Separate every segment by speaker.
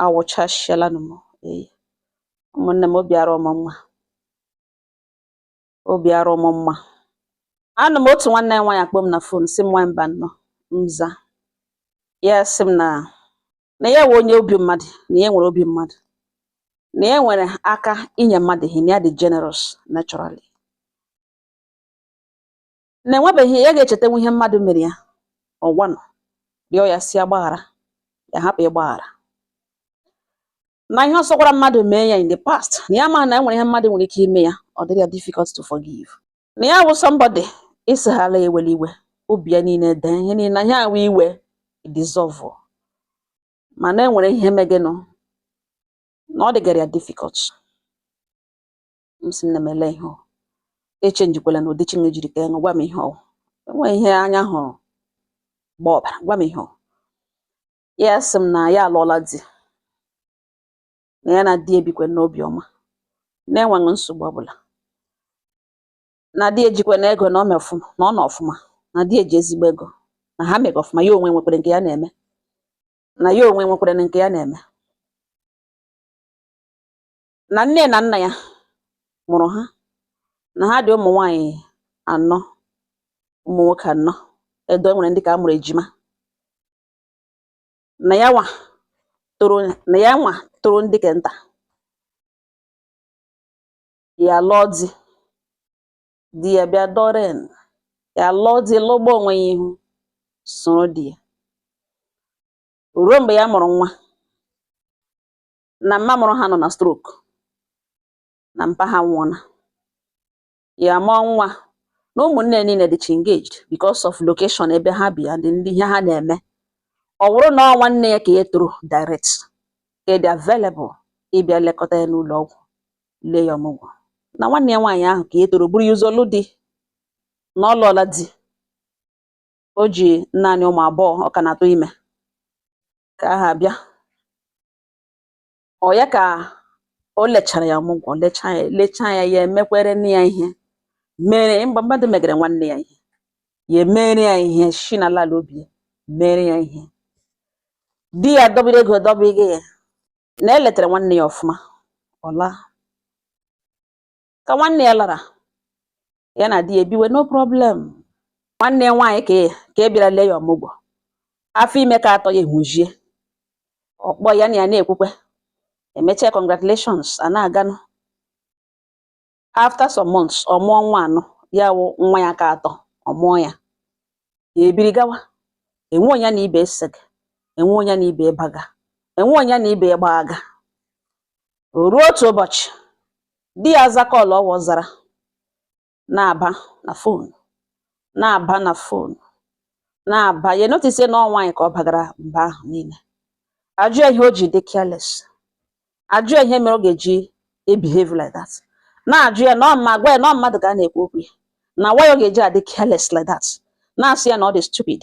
Speaker 1: awụchasịalanụ m eyi ụmụnne m obi arọ mụ mma obi arọ mụ mma anọ m otu nwanne ya nwaanyị akpọọ m na fon sị m nwa Mbano m za ya sị m na na ya wụ onye obi mmadụ na ya nwere obi mmadụ na ya nwere aka inye mmadụ ihe na ya dị generous naturally na enwebeghị ya ga-echetanwu ihe mmadụ mere ya ọgwanụ rịọ ya sị ya gbaghara ya hapụ ịgbaghara na ihe ọ sọkwara mmadụ mee ya in the past na ya ma na enwere ihe mmadụ nwere ike ime ya ọ dịrị ya difficult to forgive na ya wụ somebody ị sịhala ya ewele iwe obi ya niile dee ihe niile na ihe a wụ iwe dissolve mana enwere ihe megenụ na ọ dịgara ya difficult m sị nne m ele ihe ọ echenjikwala na ụdị chineke jiri kee gị gwa m ihe ọ enweghị ihe anya hụrụ gbaa ọbara gwa m ihe ọ ya sị m na ya alụọla di na ya na di ya bikwe n'obi ọma na-enweghị nsogbu ọbụla na di ya jikwenụ ego na ọ mee ọfụma na ọ nọ ọfụma na di ya ji ezigbo ego na ha mega ọfụma ya onwe nwekwere nke ya na-eme na ya onwe nwekwere nke ya na-eme na nne na nna ya mụrụ ha na ha dị ụmụ nwaanyị anọ ụmụ nwoke anọ although e nwere ndị ke a mụrụ ejima na ya nwa tọrọ na ya nwa tọrọ ndị ke nta ya lụọ di di ya bịa dọren ya lụọ di lụgbuo onwe ya ihu soro di ya ruo mgbe ya mụrụ nwa na mma mụrụ ha nọ na stroke na mpa ha nwụọna ya mụọ nwa na ụmụnne niile dịcha engaged because of location ebe ha bi and ndị ihe ha na-eme ọ bụrụ na ọ nwanne ya ke ya tọrọ direct ka dị available ịbịa lekọta ya n'ụlọ ọgwụ lee ya ọmụgwọ na nwanne ya nwaanyị ahụ ke ya tọrọ buru ya ụzọ lụọ di na ọ lụọla di o ji naanị ụmụ abụọ ọ ka na-atụ ime ka aha bịa ọ ya ka o lechara ya ọmụgwọ lechaa ya lechaa ya ya emekwere nne ya ihe mere mgbe mmadụ megere nwanne ya ihe ya emere ya ihe shi n'ala ala obi mere ya ihe di ya dọbiri ego dọbighị ya na eletara nwanne ya ọfụma ọ laa ka nwanne ya lara ya na di ya ebiwe no problem nwanne ya nwaanyị ka e, ka e bịara lee ya ọmụgwọ afọ ime ka atọ ya ehujie ọ kpọọ ya na ya na-ekwukwe emechaa congratulations a na-aganụ after some months ọ mụọ nwa nụ ya wụ nwa ya ka atọ ọ mụọ ya ya ebiri gawa enwe onye na ibe esega enwe onye na ibe baga enwe onye na ibe gbaga O ruo otu ụbọchị, di ya aza call ọwa zara na-aba na phone na-aba na phone na-aba ya notice na ọ nwaanyị ka ọ bagara mba ahụ niile. A jụọ ya ihe o ji dị careless. A jụọ ya ihe mere ọ ga-eji ebehave like that. Na-ajụ ya na ọ ma gwa ya na ọ mmadụ ka a na-ekwu okwu ya na why ọ ga-eji adị careless like that. Na-asị ya na ọ dị stupid.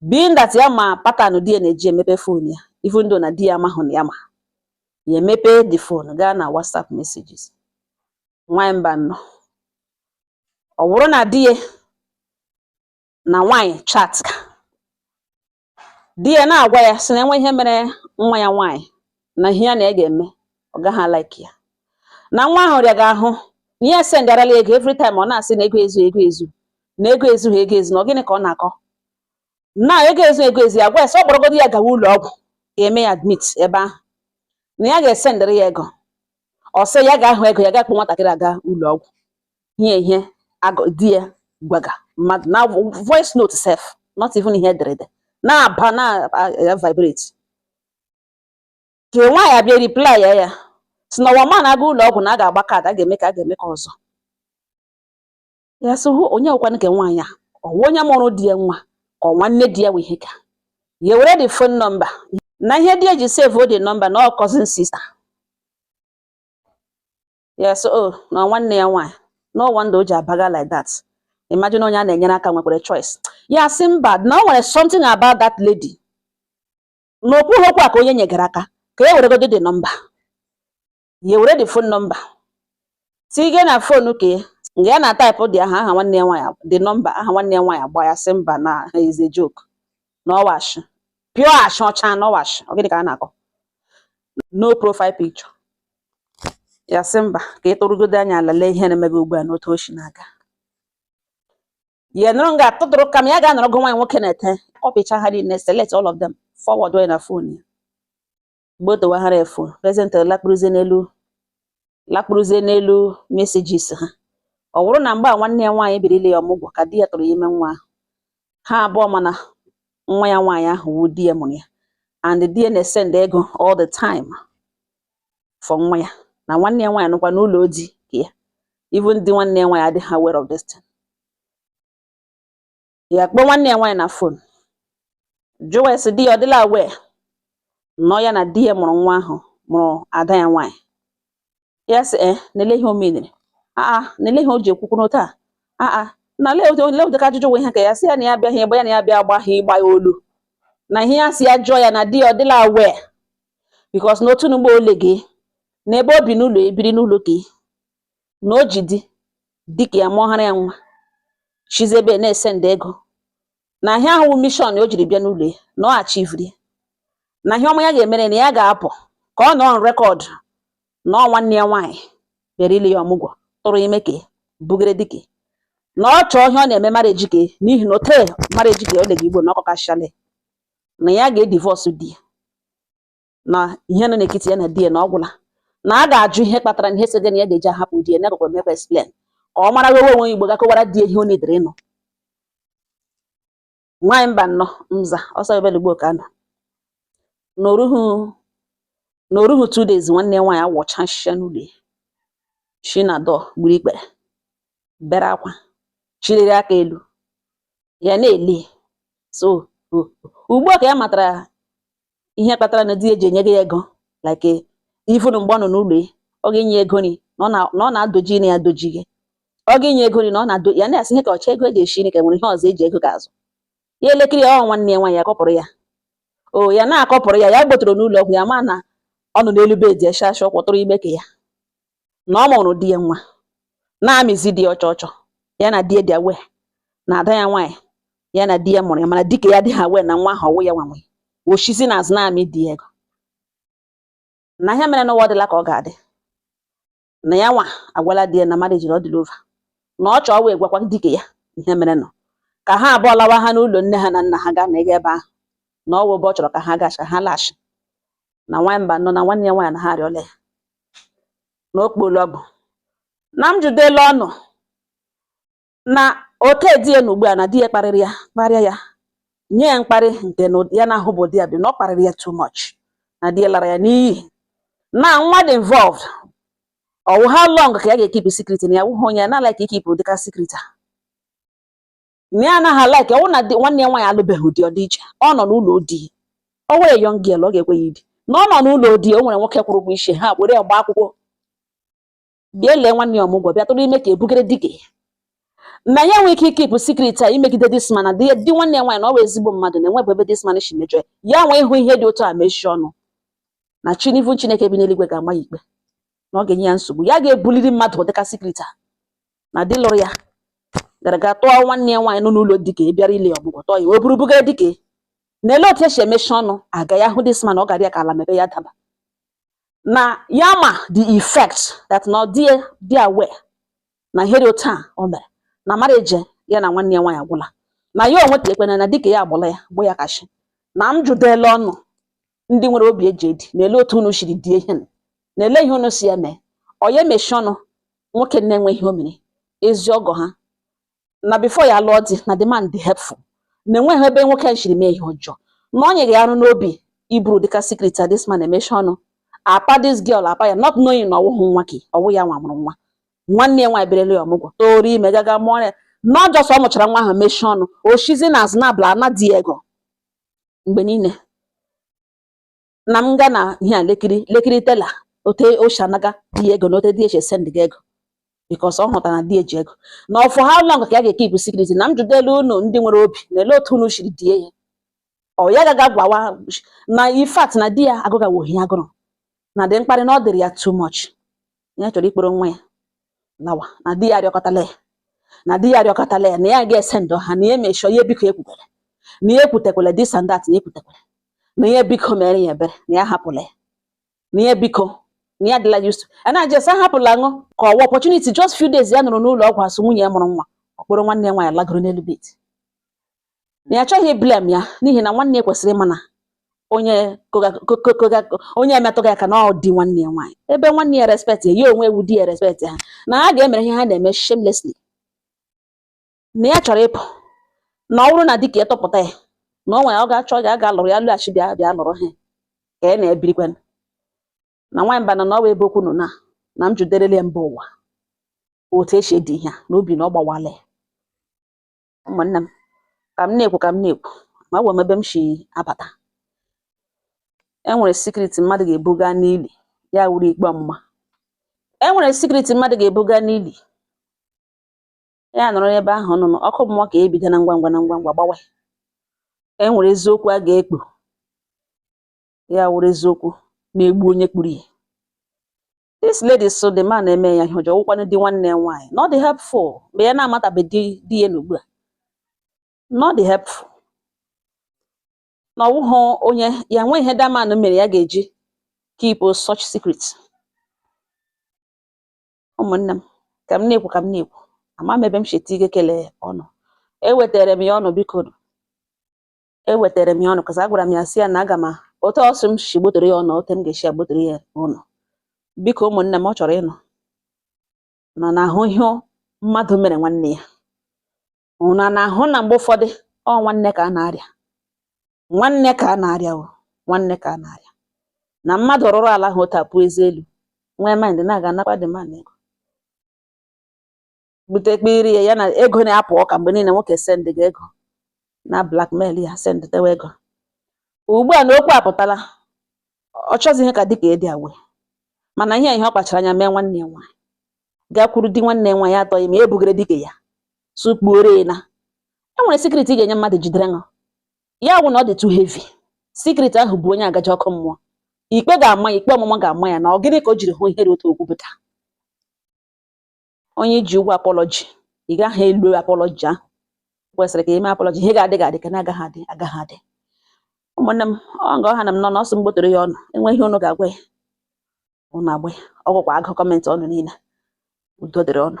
Speaker 1: being that ya ma pattern di ya na-eji emepe phone ya even though na di ya amahụ na ya ma ya emepe the phone gaa na WhatsApp messages nwanyị mba nnọ ọ wụrụ na di ya na nwanyị chat ka di ya na-agwa ya sị na enwe ihe mere nwa ya nwanyị na ihe ya na ya ga-eme ọ gaghị alike ya na nwa ahụ rịaga ahụ na ya sendarala ego every time ọ na-asị na ego ezu ego ezu na ego ezughị ego ezu na ọ gịnị ka ọ na-akọ na ego ezu ego ezu ya gwa ya sị ọ kpọrọgodo ya gawa ụlọ ọgwụ ga-eme ya admit ebe ahụ na ya ga-esendịrị ya ego ọ sị ya ga-ahụ ego ya ga-akpọ nwatakịrị aga ụlọ ọgwụ ihe ihe agụ- di ya gwaga mmadụ na voice note sef not even ihe ederede na-aba na-vibrate ka nwaanyị abịa reply ya ya sị na ọwa ma na-aga ụlọ ọgwụ na a ga-agba kaadị a ga-eme ka a ga-eme ka ọzọ ya sị hụ onye ọkwanụ ka nwaanyị a ọwa onye mụrụ di ya nwa ka ọ nwanne di ya wee ihe ka ya were the phone number na ihe di ya ji save the number na ọ cousin sister ya sị o oh, na nwanne ya nwaanyị no wonder o ji abaga like that imagine onye a na-enyere aka nwekwara choice ya sị mba na o nwere something about that lady na o kwuha okwu a ka onye nyegara aka ka e weregodo the number ya were the phone number tige na phone ka ya nga ya na-atype the aha aha nwanne ya nwaanyị the number aha nwanne ya nwaanyị agba ya sị mba na is a joke na ọ wụ ashị pure ashị ọcha na ọ wụ ashị ọ gịnị ka a na-akọ no profile picture ya sị mba ka ị tụrụgodo anya ala lee ihe na-emebe ugbu a n'otu o si na-aga ya nọrọ nga atụtụrụ calm ya ga-anọrọ gụ nwaanyị nwoke na-ete copychaa ha niile select all of them forward onwe ya na phone ya mgbe o dowaghara efu present lakpuruzie n'elu lakpuruzie n'elu messages ha ọ wụrụ na mgbe a nwanne ya nwaanyị biri ile ya ọmụgwọ ka di ya tụrụ ya ime nwa ahụ ha abụọ ma na nwa ya nwaanyị ahụ wụ di ya mụrụ ya and di ya na-esend ego all the time for nwa ya na nwanne ya nwaanyị nọkwa n'ụlọ di ke ya even di nwanne ya nwaanyị adịghị aware of this thing ya kpọọ nwanne ya nwaanyị na phone jụwa ya sị di ya ọ dịla aware na ọ ya na di ya mụrụ nwa ahụ mụrụ ada ya nwaanyị ya sị e eh, na lee ihe o menere aa na lee ihe o ji ekwu okwu otu a aa na lee ụdịka ajụjụ nwe ihe ka ya sị ya na ya bịaghị egbe ya na ya bịa agbaghị ịgba ya olu na ihe ya sị ya jụọ ya na di ya ọ dịla aware because na otu n'ugbo ole gị na ebe o bi n'ụlọ ebiri n'ụlọ gị na o ji di ke ya mụọhara ya nwa shizi ebe na-esend ego na ihe ahụ mission o jiri bịa n'ụlọ ya na ọ achivri na ihe ọma ya ga-emere na ya ga-apụ ka ọ nọ on record na ọ nwanne ya nwaanyị bịara ile ya ọmụgwọ tụrụ ime ka bugere di ke na ọ chọọ ihe ọ na-eme marriage ka n'ihi na ote marriage ka ole gị ugbo na ọ kọkachale na ya ga-edivorce di ya na ihe nọ n'ekiti ya na di ya na ọ gwụla na a ga-ajụ ihe kpatara na ihe sege na ya ga-eji ahapụ di ya na-agakwa emekwa explain ka ọ mara wewe onwe igbo gakọwara di ya ihe ọ na-edere na nwaanyị mba nọ mza ọsọ ebelugbo ka nọ na o ruhu na o ruhu two days nwanne nwaanyị awọcha nshịcha n'ụlọ ya shi na door gburu ikpere bere akwa chịliri aka elu ya na-ele so ugbu a ka ya matara ihe kpatara na di ya ji enye gị ego like ifunu mgbe ọ nọ n'ụlọ ya ọ ga-enye ego nri na ọ na-adoji na ya doji gị ọ ga-enye ego nri na ọ na-ado ya na-asị ihe ka ọcha ego eji esi nri ka nwere ihe ọzọ eji ego ga-azụ ya elekere ya ọ nwanne ya nwaanyị akọpụrụ ya o ya na-akọpụrụ ya ya gbotoro n'ụlọ ọgwụ ya ma na ọ nọ n'elu bed eshasha ọ kwọtụrụ ime ka ya na ọ mụrụ di ya nwa na-amịzi di ya ọchọ ọchọ ya na di ya dị aware na ada ya nwaanyị ya na di ya mụrụ ya mana di ke ya adịghị aware na nwa ahụ ọ wụ ya nwa nwe o shizi na azụ na-amị di ya ego na ihe mere n'ụwa dịla ka ọ ga-adị na ya nwa agwala di ya na marriage ọ dịla over na ọ chọọ wee gwakwa di ke ya ihe mere nọ ka ha abụọ lawa ha n'ụlọ nne ha na nna ha gaa na ego ebe ahụ na ọ wụ ebe ọ chọrọ ka ha gacha ha lashi na nwaanyị mba nọ na nwanne ya nwaanyị na ha arịọla ya na okporo ọgụ na m jụdela ọnụ na ọ ke di ya na ugbu a na di ya kparịrị ya kparịa ya nye ya mkparị nke na ya na-ahụbụ ụdị ya bi na ọ kparịrị ya too much na di ya lara ya n'iyi na nwa dị involved ọ wụ how long ka ya ga-ekeep secret na ya wụhụ onye ya na-alike ikeep ụdịka secret a na ya anaghị like ọ wụ na nwanne ya nwaanyị alụbeghị di ọ dị iche ọ nọ n'ụlọ di o nwere young girl ọ ga-ekwe ya idi na ọ nọ n'ụlọ di o nwere nwoke kwụrụ ụgwọ isi ha were ya gbaa akwụkwọ bịa lee nwanne ya ọmụgwọ bịa tụrụ ime ka ebugere di ke na ya nwee ike ịkeep secret a imegide this man na di nwanne ya nwaanyị na ọ bụ ezigbo mmadụ na-enwebụ ebe this man si mejọ ya nwee ịhụ ihe dị otu a mechie ọnụ na chinivu chineke bi n'eluigwe ga-ama ya ikpe na ọ ga-enye ya nsogbu ya ga-ebuliri mmadụ dịka secret a na di lụrụ ya gara ga tụọ nwanne ya nwaanyị nọ n'ụlọ di ke bịara ile ya ọmụgwọ tụọ ya o buru buga di ke na ele otu esi emechi ọnụ aga ya hụ this man ọ gara ya ka ala mepee ya daba na ya ma the fact that na ọ dị aware na ihe dị otu a o mere na marriage ya na nwanne ya nwaanyị agwụla na ya onwe telekwana na di ke ya agwụla ya wụ ya ka shi na m jụdela unu ndị nwere obi eji edi na-ele otu unu siri die ihe nụ na-ele ihe unu si eme ọ ya emechi ọnụ nwoke na enweghị ihe o mere ezi ọgọ ha na before ya lụọ di na the man dị helpful na enweghị ebe nwoke a siri mee ihe ọjọọ na ọ na-anyị ya arụ n'obi iburu dịka secret a this man emechi ọnụ apa this girl apa ya not knowing na ọ wụghị nwa gị ọ wụ ya nwa mụrụ nwa nwanne ya nwaanyị bịara ele ya ọmụgwọ tụrụ ime gaga mụọ ya not just ọ mụchara nwa ahụ mechie ọnụ o shizi n'azụ na-abịa ana di ego mgbe niile na m ga na ihe a lekiri lekiri tela ote oshanaga di ego na ote di eche send gị ego because ọ hụtara na di ya ji ego na for how long ka ya ga-ekeep secret na m jụdelu unu ndị nwere obi na ele otu unu shiri die ya ọ ya gaga gwawa na in fact na di ya agụgawohi agụrụ na the mkparị na ọ dịrị ya too much ya chọrọ ịkpọrọ nwa ya lawa na di ya arịọkọtala ya na di ya arịọkọtala ya na ya ga-esend ha na ya emejọọ ya biko ekwukwere na ya ekwutekwele this and that na ekwutekwele na ya biko mere ya ebere na ya hapụla ya na ya biko na ya dịla used to na just hapụla ṅụ ka ọwa opportunity just few days ya nọrọ n'ụlọ ọgwụ a sị nwunye ya mụrụ nwa ọ kpọrọ nwanne ya nwaanyị lagoro n'elu bed na ya achọghị blame ya n'ihi na nwanne ya kwesịrị ịma na onye onye emetụghị aka na di nwanne ya nwaanyị ebe nwanne ya respect ya ya onwe ewu di ya respect ha na ha ga-emere ihe ha na-eme shamelessly na ya chọrọ ịpụ na ọ bụrụ na dịka ya chọpụta ya na ọ nwere ọ ga-achọ ya ga alụrụ ya lụghachi bịa bịa lụrụ ha ka ya na-ebirikwa na nwaanyị mba na na ọ bụ ebe okwu nọ na na m jụderele ya mba ụwa otu esi edi ihe a n'obi na ọ gbawala ya ụmụnne m ka m na-ekwu ka m na-ekwu ma agwa m ebe m si abata e nwere secret mmadụ ga-ebuga n'ili ya awụrụ ikpe ọmụma e nwere secret mmadụ ga-ebuga n'ili ya anọrọ n'ebe ahụ n'ọkụ mmụọ ka ebido na ngwa ngwa na ngwa ngwa gbawa e nwere eziokwu a ga-ekpu ya awụrụ eziokwu na-egbu onye kpuru ya this lady sị the man eme ya ihe ọjọọ wụkwanụ di nwanne ya nwaanyị na ọ dị helpful mgbe ya na-amatabeghị di ya n'ugbu a na ọ dị helpful na ọ wụghị onye ya nwee ihe the man mere ya ga-eji keep such secret ụmụnne m ka m na-ekwu ka m na-ekwu ama m ebe m sheti ike kelee ụnụ ewetara m ya ụnụ biko ewetara m ya ụnụ cos agwara m ya sị ya na aga m otu ọsọ m si gbotoro ya ụnụ otu m ga-esi agbotoro ya ụnụ biko ụmụnne m ọ chọrọ ịnụ ụnụ na-ahụ ihe mmadụ mere nwanne ya ụnụ na-ahụ na mgbe ụfọdụ ọ nwanne ka a na-arịa nwanne ka a na-arịa ọ nwanne ka a na-arịa na mmadụ rụrụ ala ahụ otu a pụ eze elu nwee mind na-aga anakwa the man ego bute kpiri ya ya na ego na-apụ ọka mgbe niile nwoke sendghị ego na blackmail ya send tewa ego ugbu a na okwu apụtala ọ chọzi ihe ka dịka adịghị aware mana ihe ihe ọ kpachara anya mee nwanne ya nwaanyị gakwuru di nwanne ya nwaanyị atụọ ya ime e bugere di ke ya sukpuore na e nwere secret ị ga-enye mmadụ jiderenụ ya wụ na ọ dị too heavy secret ahụ bụ onye a ga-eje ọkụ mmụọ ikpe ga-ama ya ikpe ọmụma ga-ama ya na ọ gịnị ka o jiri hụ ihe dị otu a o kwupụta onye i ji ụgwọ apology ị gaghị elu apology ahụ kwesịrị ka i mee apology ihe ga-adị ga-adị nke na-agaghị adị agaghị adị ụmụnne m ọ nga ọ ha na m nọ na ọsọ m gbotoro ya ụnụ e nwee ihe ụnụ ga-agwa ya ụnụ agwa ya ọ gakwa agụ comment ụnụ niile udo dịrị ụnụ